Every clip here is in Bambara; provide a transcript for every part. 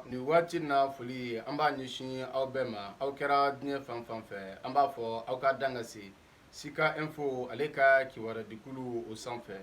nin waati na foli an b'a ɲɛsin aw bɛɛ ma aw kɛra diɲɛ fan fan fɛ an b'a fɔ aw ka dan ka se sika info ale ka kibarudikulu o sanfɛ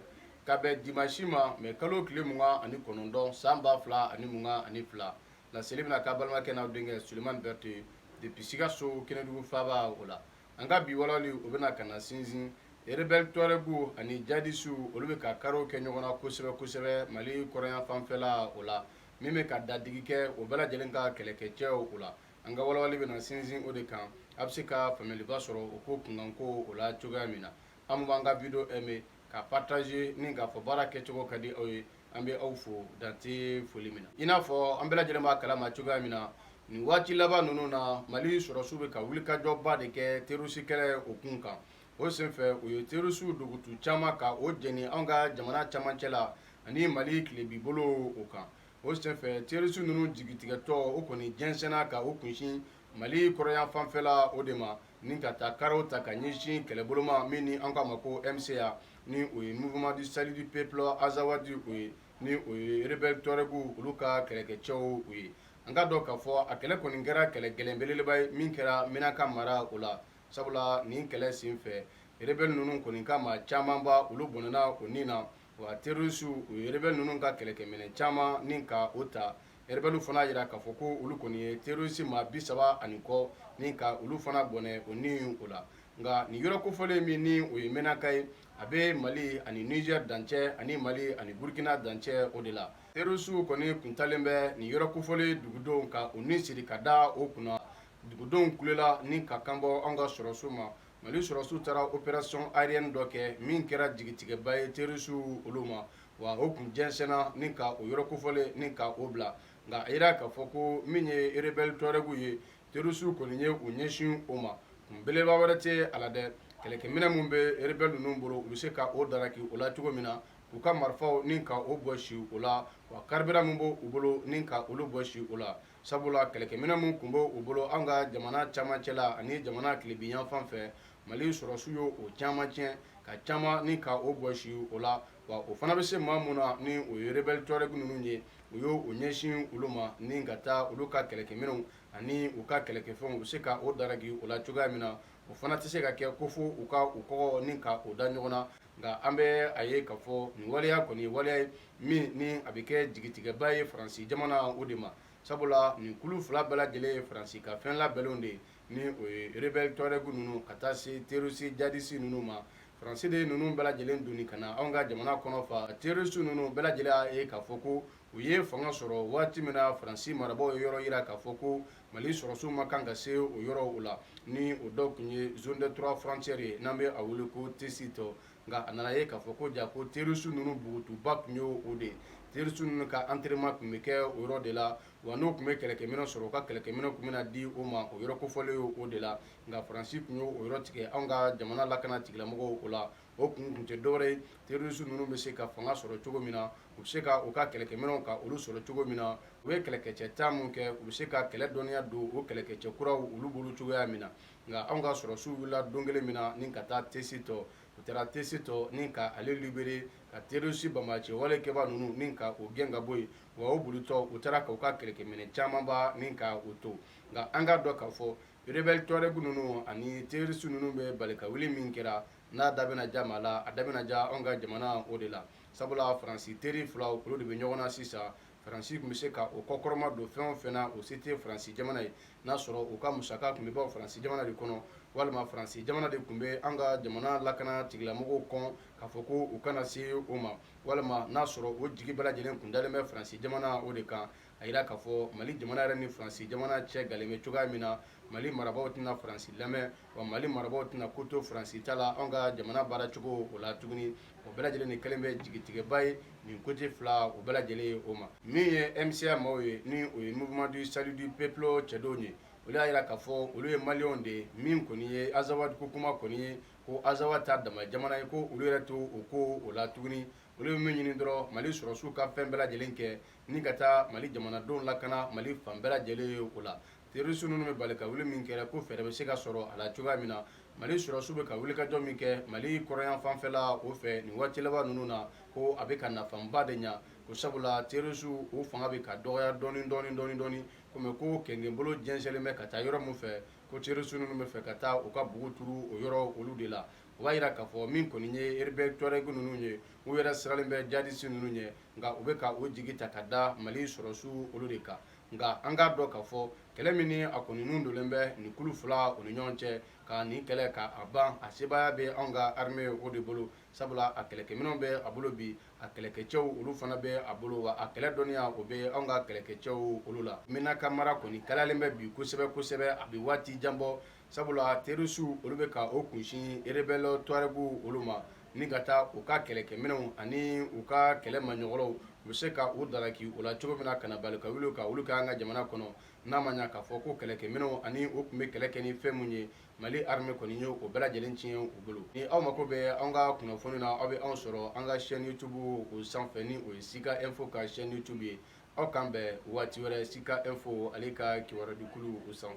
ka bɛn dimansi ma mɛ kalo tile mugan ani kɔnɔntɔn san ba fila ani mugan ani fila laseli bɛna k'a balimakɛ n'aw denkɛ sulemani berete depuis sikaso kɛnɛdugu faaba o la an ka bi walawali o bɛna ka na sinsin rebɛl tuarɛgu ani jadisiw olu bɛ ka kariw kɛ ɲɔgɔn na kosɛbɛ kosɛbɛ mali kɔrɔnyan fanfɛla o la min bɛ ka dadigi kɛ o bɛɛ lajɛlen ka kɛlɛkɛcɛw o la an ka walawali bɛna sinsin o de kan a bɛ se ka faamuyaliba sɔrɔ o ko kunkanko o la cogoya min na an b'an ka video aimer ka partager ni k'a fɔ baara kɛcogo ka di aw ye an bɛ aw fo dan tɛ foli min na i n'a fɔ an bɛɛ lajɛlen b'a kalama cogoya min na nin waati laban ninnu na mali sɔrɔsiw bɛ ka wulikajɔba de kɛ terorisi kɛlɛ o kun kan o senfɛ u ye terisiw dogotu caman ka o jɛni an ka jamana camancɛ la ani mali tilebi bolo o kan o senfɛ terisi ninnu jigitigɛtɔ o kɔni jɛnsɛnna ka u kunsin mali kɔrɔyanfanfɛla o de ma ni ka taa karaw ta ka ɲɛsin kɛlɛbolo ma min ni an k'a ma ko MSA ni o ye mouvement du salut du peuple azawadi o ye ni o ye rebɛl tuarɛguw olu ka kɛlɛkɛcɛw u ye an k'a dɔn k'a fɔ a kɛlɛ kɔni kɛra kɛlɛ gɛlɛn belebeleba ye min kɛra menaka mara o la Sabula nin kɛlɛ sen fɛ rebɛli ninnu kɔni ka maa camanba olu bɔnɛna u ni na wa terorisiw u ye rebɛli ninnu ka kɛlɛkɛminɛ caman ni ka o ta rebɛliw fana yira k'a fɔ ko olu kɔni ye terorisi maa bi saba ani kɔ ni ka olu fana bɔnɛ o ni o la nka nin yɔrɔ kofɔlen min ni o ye menaka ye a bɛ mali ani nizɛri dancɛ ani mali ani burukina dancɛ o de la terorisiw kɔni tun taalen bɛ nin yɔrɔ kofɔlen dugudenw ka u ni siri ka da o kunna dugudenw kulela ni ka kanbɔ an ka sɔrɔsiw ma mali sɔrɔsiw taara opération aérienne dɔ kɛ min kɛra jigitigɛba ye terroristuw olu ma wa o tun jɛnsɛnna ni ka o yɔrɔ kofɔlen ni ka o bila nka a yira k'a fɔ ko min ye rebelle tuarɛguw ye terroristuw kɔni ye u ɲɛsin o ma kun belebeleba wɛrɛ tɛ a la dɛ kɛlɛkɛminɛn min bɛ rebelle ninnu bolo u bɛ se ka o daraki o la cogo min na u ka marifaw ni ka o bɔsi o la wa carburant min b'u bolo ni ka olu bɔsi o la sabula kɛlɛkɛminɛ min tun bɛ u bolo an ka jamana camancɛ la ani jamana tilebiyanfan fɛ mali sɔrɔsiw ye o caman tiɲɛ ka caman ni ka o bɔsi o la wa u fana bɛ se maa min na ni o ye rebelle tuareg ninnu ye u y'u ɲɛsin olu ma ni ka taa olu ka kɛlɛkɛminɛnw ani u ka kɛlɛkɛfɛnw u bɛ se ka o daraki o la cogoya min na o fana tɛ se ka kɛ ko fo u ka u kɔgɔ ni ka o da ɲɔgɔn na nka an bɛ a ye k'a fɔ nin waleya kɔni waleya ye min ni a bɛ kɛ jigitigɛba ye faransi jamana o de ma sabula nin kulu fila bɛɛ lajɛlen ye faransi ka fɛn labɛnlenw de ye ni o ye rebelle tuareg ninnu ka taa se terroriste djihadiste ninnu ma faransi de ye ninnu bɛɛ lajɛlen doni ka na anw ka jamana kɔnɔ fa terroriste ninnu bɛɛ lajɛlen y'a ye k'a fɔ ko u ye fanga sɔrɔ waati min na faransi marabaaw ye yɔrɔ yira k'a fɔ ko Mali sɔrɔsiw man kan ka se o yɔrɔ o la ni o dɔw tun ye zone de trois frontières ye n'an bɛ a wele ko Tessit nka a nana ye k'a fɔ ko ja ko terroriste ninnu bugutuba tun ye o de ye terroriste ninnu ka entraînement tun bɛ kɛ o yɔrɔ de la wa n'u tun bɛ kɛlɛkɛminɛn sɔrɔ u ka kɛlɛkɛminɛn tun bɛna di o ma o yɔrɔ kofɔlen ye o de la nka Faransi tun ye o yɔrɔ tigɛ anw ka jamana lakana tigilamɔgɔw o la o kun tun tɛ dɔwɛrɛ ye terorisi ninnu bɛ se ka fanga sɔrɔ cogo min na u bɛ se ka u ka kɛlɛkɛminɛnw ka olu sɔrɔ cogo min na u ye kɛlɛkɛcɛ ta minnu kɛ u bɛ se ka kɛlɛ dɔnniya don o kɛlɛkɛcɛ kuraw olu bolo cogoya min na nka anw ka sɔrɔsiw wulila don kelen min na ni ka taa Tessit u taara Tessit ni ka ale libéré ka terorisi banbaanci wale kɛbaa ninnu ni ka o gɛn ka bɔ yen wa o bolitɔ u taara ka u ka kɛlɛkɛminɛ camanba ni ka u to nka an k'a dɔn k'a fɔ Rebelle Touareg ninnu ani terroriste ninnu bɛ balikawuli min kɛra, n'a da bɛna ja maa la, a da bɛna ja anw ka jamana o de la. Sabula Faransi teri filaw olu de bɛ ɲɔgɔn na sisan. Faransi tun bɛ se ka o kɔkɔrɔmadon fɛn o fɛn na, o se tɛ Faransi jamana ye, n'a sɔrɔ u ka musaka tun bɛ bɔ Faransi jamana de kɔnɔ, walima Faransi jamana de tun bɛ an ka jamana lakana tigilamɔgɔw kɔn k'a fɔ ko u kana se o ma, walima n'a sɔrɔ o jigi bɛɛ lajɛlen tun dalen bɛ Faransi jamana o de kan. a yira k'a fɔ mali jamana yɛrɛ ni faransi jamana cɛ galen bɛ cogoya min na mali marabaaw tɛna faransi lamɛn wa mali marabaaw tɛna ko to faransi ta la anw ka jamana baara cogo o la tuguni o bɛɛ lajɛlen de kɛlen bɛ jigitigɛba ye nin côté fila o bɛɛ lajɛlen ye o ma min ye MSA maaw ye ni o ye mouvement du salut du peuple cɛdenw ye olu y'a yira k'a fɔ olu ye maliyɛnw de ye min kɔni ye azawadi ko kuma kɔni ye ko azawadi ta dama jamana ye ko olu yɛrɛ t'o ko o la tuguni olu bɛ min ɲini dɔrɔn mali sɔrɔsiw ka fɛn bɛɛ lajɛlen kɛ ni ka taa mali jamanadenw lakana mali fan bɛɛ lajɛlen ye o la terorisi ninnu bɛ balikawuli min kɛra ko fɛɛrɛ bɛ se ka sɔrɔ a la cogoya min na mali sɔrɔsiw bɛ ka wulikajɔ min kɛ mali kɔrɔnyanfanfɛla o fɛ nin waati laban ninnu na ko a bɛ ka nafaba de ɲa ko sabula terorisiw o fanga bɛ ka dɔgɔya dɔɔni dɔɔni dɔɔni dɔɔni komi ko kɛnkɛnbolo jɛnsɛnlen bɛ ka taa yɔrɔ min fɛ ko terorisi ninnu bɛ fɛ ka taa u ka bugu turu o yɔrɔ olu de la o b'a yira k'a fɔ min kɔni ye rebelle tuareg ninnu ye, u yɛrɛ siralen bɛ djihadistes ninnu ɲɛ nka u bɛ ka u jigi ta ka da Mali sɔrɔsiw olu de kan nka an k'a dɔn k'a fɔ kɛlɛ min ni a kɔnni nun donnen bɛ nin kulu fila o ni ɲɔgɔn cɛ ka nin kɛlɛ ka a ban a sebaaya bɛ anw ka armee o de bolo sabula a kɛlɛkɛminɛw bɛ a bolo bi a kɛlɛkɛcɛw olu fana bɛ a bolo wa a kɛlɛ dɔnniya o bɛ anw ka kɛlɛkɛcɛw olu la Menaka mara kɔnni kalayalen bɛ bi kosɛbɛ kosɛbɛ a bɛ waati jan bɔ sabula terɔrisiw olu bɛ ka o kunsin rebɛlɛ tuaregu olu ma ni ka taa u ka kɛlɛkɛminɛnw ani u ka kɛlɛ maɲɔgɔnw u bɛ se ka u dala k' u la cogo min na ka na balikawuli ka olu kɛ an ka jamana kɔnɔ n'a ma y'a k'a fɔ ko kɛlɛkɛminɛnw ani u tun bɛ kɛlɛ kɛ ni fɛn minnu ye mali arime kɔni ye o bɛɛ lajɛlen tiɲɛ u bolo ni aw mako bɛ an ka kunnafoni na aw bɛ anw sɔrɔ an ka chaîne youtube o sanfɛ ni o ye sika info ka chaîne youtube ye aw k'an bɛn waati wɛrɛ sika info ale ka kibaruyadikulu o sanfɛ